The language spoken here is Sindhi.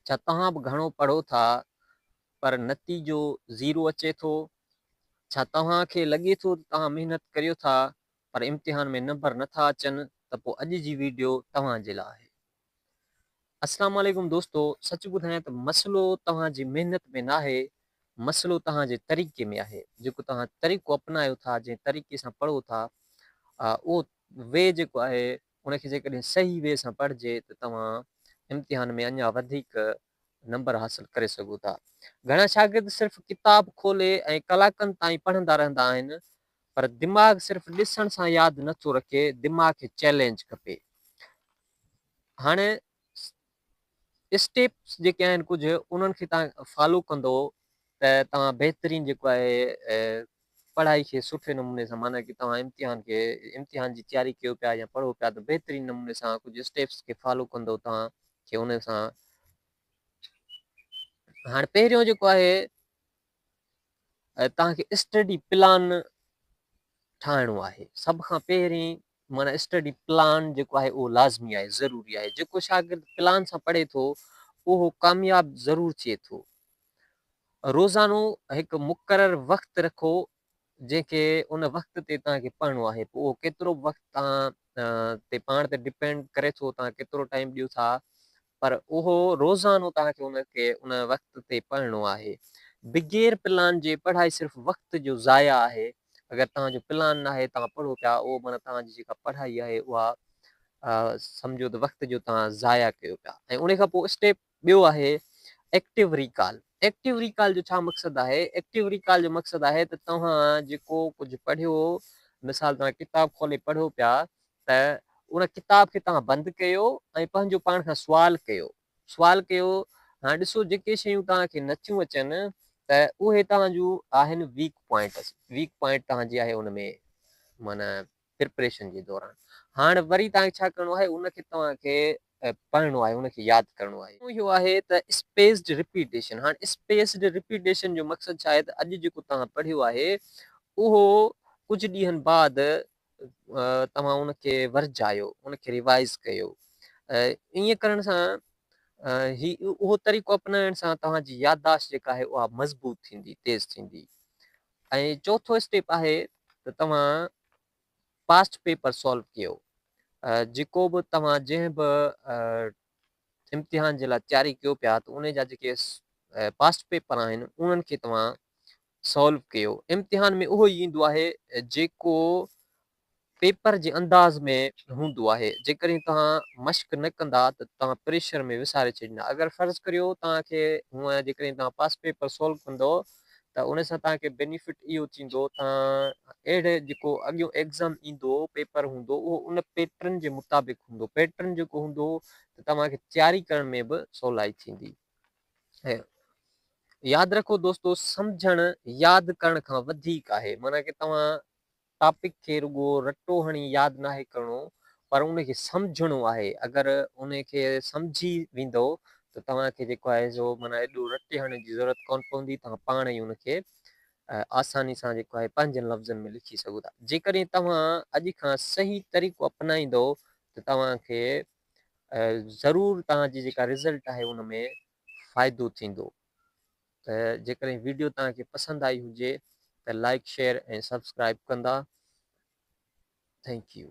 ڇا توهان به گهڻو پڙهو ٿا پر نتيجو زيرو اچي ٿو؟ ڇا توهان کي لڳي ٿو ته توهان محنت ڪريو ٿا پر امتحان ۾ نمبر نه ٿا اچن ته پوء اڄ جي ويڊيو توهان جي لاء آهي. السلام عليڪم دوستو سچ ٻڌايان ته مسئلو توهان جي محنت ۾ ناهي مسئلو توهان جي طريقي ۾ آهي جيڪو توهان طريقو اپنايو ٿا جنهن طريقي سان پڙهو ٿا اهو وي جيڪو آهي ان کي جيڪڏهن صحيح وي سان پڙهجي ته توهان امتحان ۾ اڃا وڌيڪ نمبر حاصل ڪري سگهو ٿا. گهڻا شاگرد صرف ڪتاب کولي ۽ ڪلاڪن تائين پڙهندا رهندا آهن پر دماغ صرف ڏسڻ سان ياد نه ٿو رکي دماغ کي چئلينج کپي. هاڻي اسٽيپس جيڪي آهن ڪجهه انهن کي تان فالو ڪندو ته توهان بهترين جيڪو آهي پڙهائي کي سٺي نموني سان معنی ڪي توهان امتحان کي امتحان جي تياري ڪيو پيا يا پڙهو پيا ته بهترين نموني سان ڪجهه اسٽيپس کي فالو ڪندو توهان کي ان سان هاڻي پهريون جيڪو آهي ۽ توهان کي اسٽڊي پلان ٺاهڻو آهي سڀ کان پهرين مانا اسٽڊي پلان جيڪو آهي اهو لازمي آهي ضروري آهي جيڪو شاگرد پلان سان پڙهي ٿو اهو ڪامياب ضرور ٿئي ٿو روزانو هڪ مقرر وقت رکو جنهن کي ان وقت تي توهان کي پڙهڻو آهي پوء اهو ڪيترو وقت توهان تي پاڻ تي ڊپينڊ ڪري ٿو توهان ڪيترو ٽائيم ڏيو ٿا پر اهو روزانو توهان کي ان کي ان وقت تي پڙهڻو آهي. بغير پلان جي پڙهائي صرف وقت جو ضايع آهي. اگر توهان جو پلان ناهي توهان پڙهو پيا اهو معنيٰ توهان جي جيڪا پڙهائي آهي اها سمجهو ته وقت جو توهان ضايع ڪيو پيا ۽ ان کان پوء اسٽيپ ٻيو آهي ايڪٽيو ريڪال ايڪٽيو ريڪال جو ڇا مقصد آهي ايڪٽيو ريڪال جو مقصد آهي ته توهان جيڪو ڪجهه پڙهيو مثال توهان ڪتاب کولي پڙهو پيا ته ان ڪتاب کي توهان بند ڪيو ۽ پنهنجو پاڻ کان سوال ڪيو، سوال ڪيو، هاڻ ڏسو جيڪي شيون توهان کي نه ٿيون اچن ته اهي توهان جون آهن ويڪ پوائنٽس، ويڪ پوائنٽ توهان جي آهي ان ۾ معنيٰ پريپريشن جي دوران، هاڻ وري توهان کي ڇا ڪرڻو آهي ان کي توهان کي پڙهڻو آهي، ان کي ياد ڪرڻو آهي. ٽيون اهو آهي ته اسپيسڊ رپيٽيشن، هاڻ اسپيسڊ رپيٽيشن جو مقصد ڇا آهي ته اڄ جيڪو توهان پڙهيو آهي اهو ڪجهه ڏينهن بعد توهان ان کي ورجايو ان کي ريوائز ڪيو ائين ڪرڻ سان هي اهو طريقو اپنائڻ سان توهان جي يادداشت جيڪا آهي اها مضبوط ٿيندي تيز ٿيندي ۽ چوٿو اسٽيپ آهي ته توهان پاسٽ پيپر سالو ڪيو جيڪو به توهان جنهن به امتحان جي لاء تياري ڪيو پيا ته ان جا جيڪي پاسٽ پيپر آهن انهن کي توهان سالو ڪيو امتحان ۾ اهو ئي ايندو آهي جيڪو پيپر جي انداز ۾ هوندو آهي جيڪڏهن توهان مشق نه ڪندا ته توهان پريشر ۾ وساري ڇڏيندا اگر فرض ڪريو توهان کي هونئن جيڪڏهن توهان پاس پيپر سالو ڪندو ته ان سان توهان کي بينيفٽ اهو ٿيندو توهان اهڙي جيڪو اڳيون ايگزام ايندو پيپر هوندو اهو ان پيٽرن جي مطابق هوندو پيٽرن جيڪو هوندو ته توهان کي تياري ڪرڻ ۾ به سولائي ٿيندي ياد رکو دوستو سمجهڻ ياد ڪرڻ کان وڌيڪ آهي معنيٰ ڪي توهان ٽاپڪ کي رڳو رٽو هڻي ياد ناهي ڪرڻو پر ان کي سمجهڻو آهي اگر ان کي سمجهي ويندو ته توهان کي جيڪو آهي سو معنيٰ ايڏو رٽي هڻڻ جي ضرورت ڪون پوندي توهان پاڻ ئي ان کي آساني سان جيڪو آهي پنهنجن لفظن ۾ لکي سگهو ٿا جيڪڏهن توهان اڄ کان صحيح طريقو اپنائيندو ته توهان کي ضرور توهان جي جيڪا رزلٽ آهي ان ۾ فائدو ٿيندو ته جيڪڏهن ويڊيو توهان کي پسند آئي هجي ته لائڪ شيئر ۽ سبسڪرائب ڪندا ٿينڪ يو